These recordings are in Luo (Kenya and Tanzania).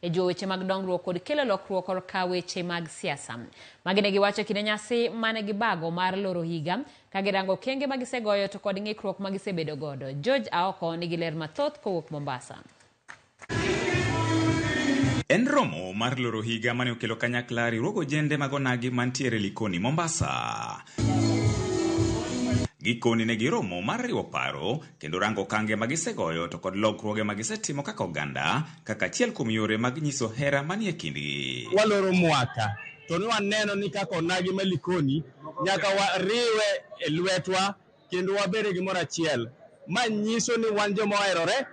e jiwo weche mag dongruok kod kelo lokruok korka weche mag siasa. Magi ne giwacho kinde nyasi mane gibago mar loro higa ka girango okenge ma gisegoyo to kod ng'ikruok ma gisebedo godo. George Aoko nigi ler mathoth kowuok Mombasa. En romo mar loro higa mane okelo kanyakla riwruog ojende mag onagi mantiere Likoni, Mombasa. Gikoni ne giromo mar riwo paro kendo rango okange ma gisegoyo to kod lokruoge ma gisetimo kaka oganda kaka achiel kuom yore mag nyiso hera manie kindgi. Waloro mwaka to ne waneno ni kaka onagi ma Likoni nyaka wariwe e lwetwa kendo wabed e gimoro achiel. Ma nyiso ni wan joma oherore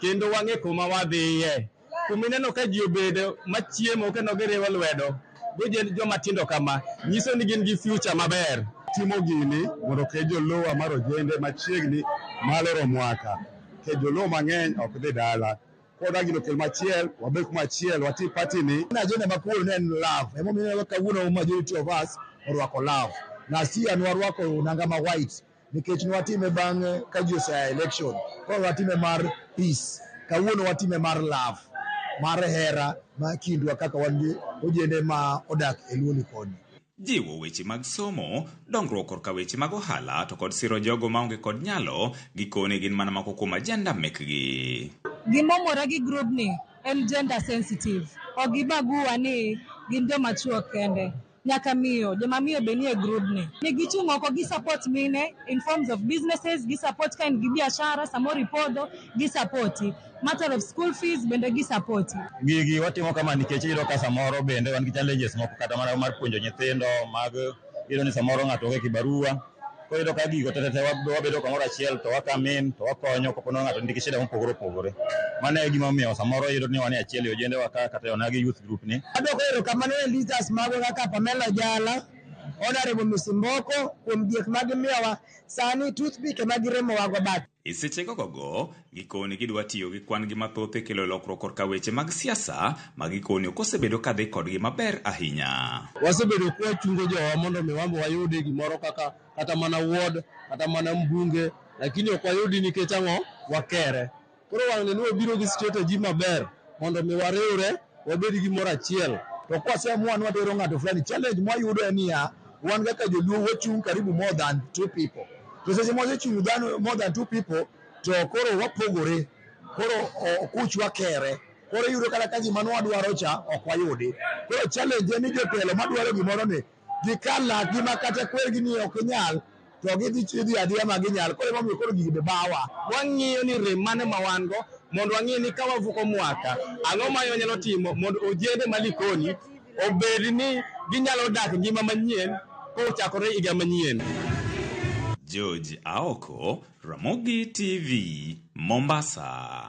kendo wang'e kuma wadhiye. kuma ineno ka ji obedo machiemo kendo giriwo lwedo gojend joma tindo kama nyiso ni gin gi future maber timo gini mondo ke jolowa mar ojende machiegni maloro mwaka ke jolowa mang'eny ok dhi dala koda gino kel machiel wabed kuma achiel wati party ni na ajenda makuru ne en love emomiyo ineno kawuono majority of us orwako love na si an warwako nanga ma white nikech nwatime bang'e ka ji osea election koro watime mar peace kawuono watime mar love mar hera ma kindwa kaka wan gi ojende ma odak e luoni koni jiwo weche mag somo, dongruok korka weche mag ohala to kod siro jogo maonge kod nyalo, gikone gin mana moko kuom ajenda mekgi. Gimomora gi grubni en gender sensitive, ok gibagua ni gin joma chwo kende. nyaka miyo joma miyo be nie grubni ni gichung' oko gi support mine in forms of businesses gi support ka in gi biashara samoro ipodho gi sapoti matter of school fees bende gi sapoti gigi watimo kama nikech iyudo ka samoro bende wan gi challenges moko kata mana mar puonjo nyithindo mag iyudo ni samoro ng'ato onge kibarua Koro iyudo ka gigo tetete wabedo kamoro achiel to wakamin to wakonyo kapo ni ng'ato nigi shida mopogore opogore. Mano e gima omiyo samoro iyudo ni wan e achiel e ojendewa ka kata e onagi youth group ni. Adwoko erokamano ne leaders magwa kaka Pamela Ojala, Honourable Misimboko kuom diek ma gimiyowa. Sani toothpick ema giremowago but. E seche gogogo, gikoni gidwa tiyo gi kwan-gi mathoth e kelo lokruok korka weche mag siasa ma gikoni ok osebedo ka dhi kodgi maber ahinya. Wasebedo ka wachungo jowa mondo mi wan be wayudi gimoro kaka kata mana ward kata mana mbunge lakini ok wayudi nikech ang'o? Wakere. Koro wang'ne ni wabiro gi strategy maber mondo mi wariwre. wabed gi moro achiel to kwaseamua ni watero ng'ato fulani challenge mwayudo en niya wan kaka joluo wachung' karibu more than two people to seche mwasechung' dhano more than two people to koro wapogore koro o- kuch wakere koro iyudo kata ka gima nwadwaro cha ok wayudi koro challenge en ni jotelo madwaro gimoro ni gikal lakgi ma kata kwergi ni ok inyal to gidhi chidhi adiya ma ginyal koro emomiyo koro gigi be bawa wang'iyo ni rem mane ma wan go mondo wang'e ni ka wavuko mwaka ang'o ma wanyalo timo mondo ojende ma Likoni obed ni ginyalo dak ngima manyien kochakore higa manyien. George Aoko, Ramogi TV, Mombasa.